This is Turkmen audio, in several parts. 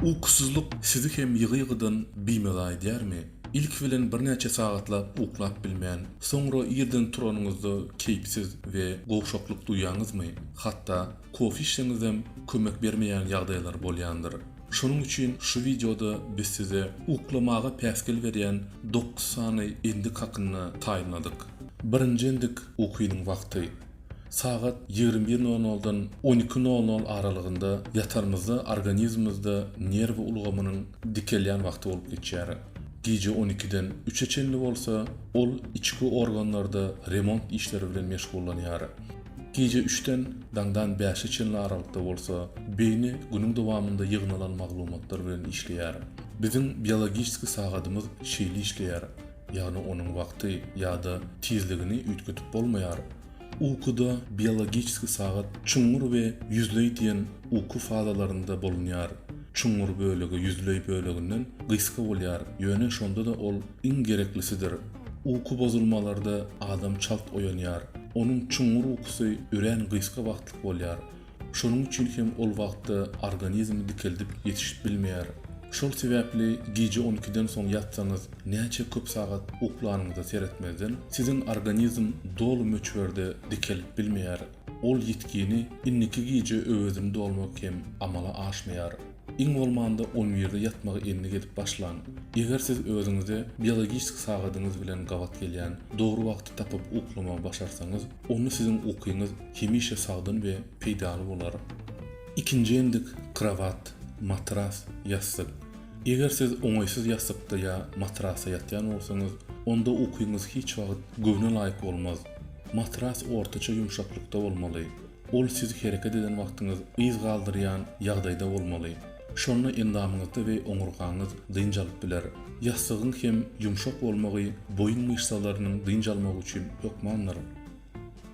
Ukusyzlyk sizi hem ýygy-ýygydan bimeza edýärmi? Ilki bilen birnäçe sagatlap uklap bilmän, soňra irden turanyňyzda keýpsiz we gowşaklyk duýýaňyzmy? Hatda kofe içseňizem kömek bermeýän ýagdaýlar bolýandyr. Şonuň üçin şu wideoda biz size uklamaga päsgel berýän dokuz sany endik hakynda taýynladyk. Birinji endik, ukynyň wagty. Sagat ýigrimi bir nol noldan on iki nol nol aralygynda ýatanymyzda organizmimizde nerw ulgamynyň dikelýän wagty bolup geçýär. Gije on ikiden üçe çenli bolsa, ol içki organlarda remont işleri bilen meşgullanýar. Gije üçden daňdan bäşe çenli aralykda bolsa, beýni günüň dowamynda ýygnalan maglumatlar bilen işleýär. Biziň biologiski sagadymyz şeýle işleýär. ýagny onuň wagty ýa-da tizligini üýtgedip bolmaýar. Ukuda biologiski sagat çuňňur we ýüzleý diýen uky fazalarynda bolunýar. Çuňňur bölegi ýüzleý böleginden gysga bolýar, ýöne şonda-da ol iň gereklisidir. Uky bozulmalarda adam çalt oýanýar. Onuň çuňňur ukusy örän gysga wagtlyk bolýar. Şonuň üçin hem ol wagtda organizm dikeldip ýetişip bilmeýär. Şol sebäpli gije on ikiden soň ýatsaňyz, näçe köp sagat uklanyňyza seretmezden, siziň organizm doly möçberde dikelip bilmeýär. Ol ýitgini indiki gije öwezini dolmak hem amala aşmaýar. Iň bolmanda on birde ýatmagy endik edip başlaň. Eger siz özüňize biologik sagadyňyz bilen gabat gelýän dogry wagty tapyp uklamagy başarsaňyz, onda siziň ukyňyz hemişe sagdyn we peýdaly bolar. Ikinji endik, krowat, matras, ýassyk. Eger siz oňaýsyz ýassykda ýa matrasda ýatýan bolsaňyz, onda ukyňyz hiç wagt göwne laýyk bolmaz. Matras ortaça ýumşaklykda bolmaly. Ol siz hereket eden wagtyňyz yz galdyrýan ýagdaýda bolmaly. Şonda endamyňyzda we oňurgaňyz dynç alyp biler. Ýassygyň hem ýumşak bolmagy boýun myşsalarynyň dynç almagy üçin hökmandyr.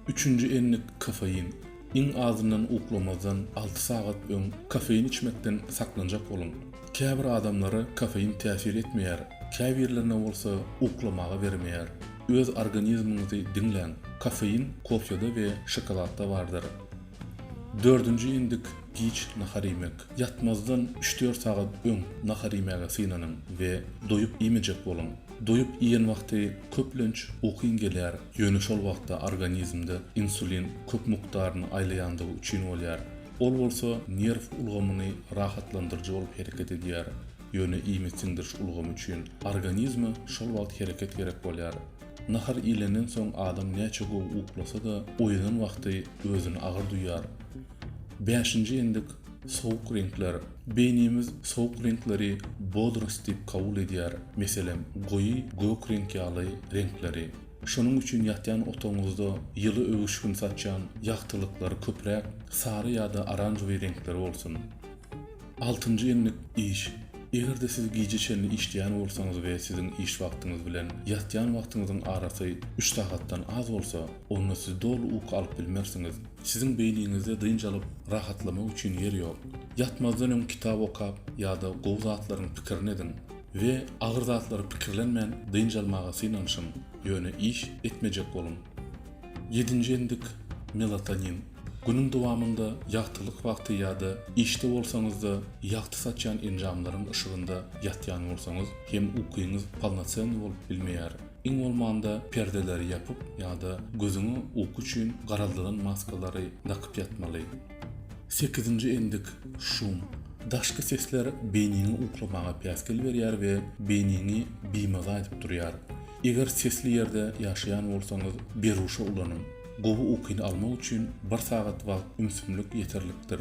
Üçünji endik kofein. Iň azyndan uklamazdan alty sagat öň kofein içmekden saklanjak boluň. Käbir adamlara kofein täsir etmeýär, käbirlerine bolsa uklamaga bermeýär. Öz organizmiňizi diňläň, kofein kofeda we şokoladda bardyr. Dördünji endik giç nahar iýmek. Ýatmazdan üç-dört sagat öň nahar iýmäge synanyň we doýup iýmejek boluň. Doýup iýen wagty köplenç ukyň gelýär, ýöne şol wagtda organizmde insulin köp mukdaryny aýlaýandygy üçin bolýar. Ol bolsa nerw ulgamyny rahatlandyryjy bolup hereket edýär, ýöne iýmit siňdiriş ulgamy üçin organizme şol wagt hereket gerek bolýar. Nahar iýlenden soň adam näçe gowy uklasa-da, oýanan wagty özüni agyr duýýar. Bäşinji endik, sowuk reňkler. Beýnimiz sowuk reňkleri bodrost diýip kabul edýär, meselem, goýy gök reňk ýaly reňkleri. Şonuň üçin ýatýan otagyňyzda ýyly öwüşgin saçýan ýagtylyklary köpräk sary ýa-da oranžowy reňkleri bolsun. Altynjy endik, iş. Eger-de siz gije çenli işleýän bolsaňyz we siziň iş wagtyňyz bilen ýatýan wagtyňyzyň arasy üç sagatdan az bolsa, onda siz doly uky alyp bilmersiňiz. Siziň beýniňizde dynç alyp, rahatlamak üçin ýer ýok. Ýatmazdan öň kitap okap ýa-da gowy zatlaryň pikirini ediň. we agyr zatlary pikirlenmän dynç almaga synanyşyň, ýöne iş etmejek boluň. Ýedinji endik, melatonin. Günüň dowamynda ýagtylyk wagty ýa-da işde bolsaňyz-da, ýagty saçýan enjamlaryň yşygynda ýatýan bolsaňyz hem ukyňyz polnocennyý bolup bilmeýär. Iň bolmanda perdeleri ýapyp ýa-da gözüňi uky üçin garaldyran maskalary dakyp ýatmaly. Sekizinji endik, şum. Daşky sesler beýniňi uklamaga päsgel berýär we beýniňi bimaza edip durýar. Eger sesli ýerde ýaşaýan bolsaňyz, beruşa ulanyň. Gowy ukyny almak üçin bir sagat wagt ümsümlik ýeterlikdir.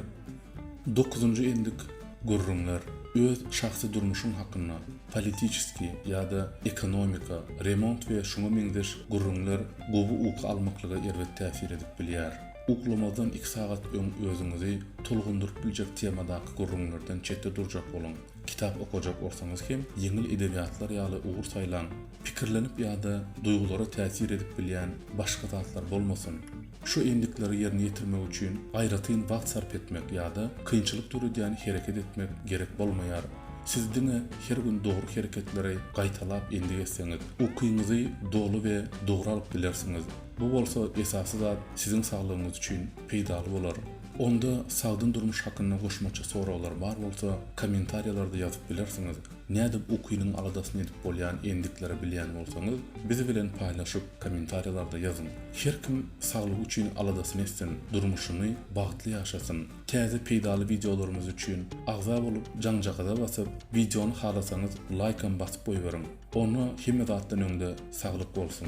Dokuzynjy endik, gürrüňler. Öz şahsy durmuşyň hakynda, politiçeski ýa-da ekonomika, remont we şuňa meňzeş gürrüňler gowy uky almaklyga erbet täsir edip bilýär. Uklamazdan iki sagat öň özüňizi tolgundyryp biljek temadaky gürrüňlerden çetde durjak boluň. Kitap okajak bolsaňyz hem, ýeňil edebiýatlar ýaly ugur saýlaň. Pikirlenip ýa-da duýgulara täsir edip bilýän başga zatlar bolmasyn. Şu endikleri ýerine ýetirmek üçin aýratyn wagt sarp etmek ýa-da kynçylyk döredýän hereket etmek gerek bolmaýar. Siz diňe her gün dogry hereketleri gaýtalap endik etseňiz, ukyňyzy doly we dogry alyp bilersiňiz. Bu bolsa esasy zat siziň saglygyňyz üçin peýdaly bolar. Onda sagdyn durmuş hakynda goşmaça soraglar bar bolsa kommentariýalarda ýazyp bilersiňiz. Nädip ukynyň aladasyny edip bolýan endikleri bilýän bolsaňyz biz bilen paýlaşyp kommentariýalarda ýazyň. Her kim saglygy üçin aladasyny etsin, durmuşyny bagtly ýaşasyn. Täze peýdaly wideolarymyz üçin agza bolup jaňjagaza basyp wideony halasaňyz laýkam basyp goýberiň. Onda hemme zatdan öňde saglyk bolsun.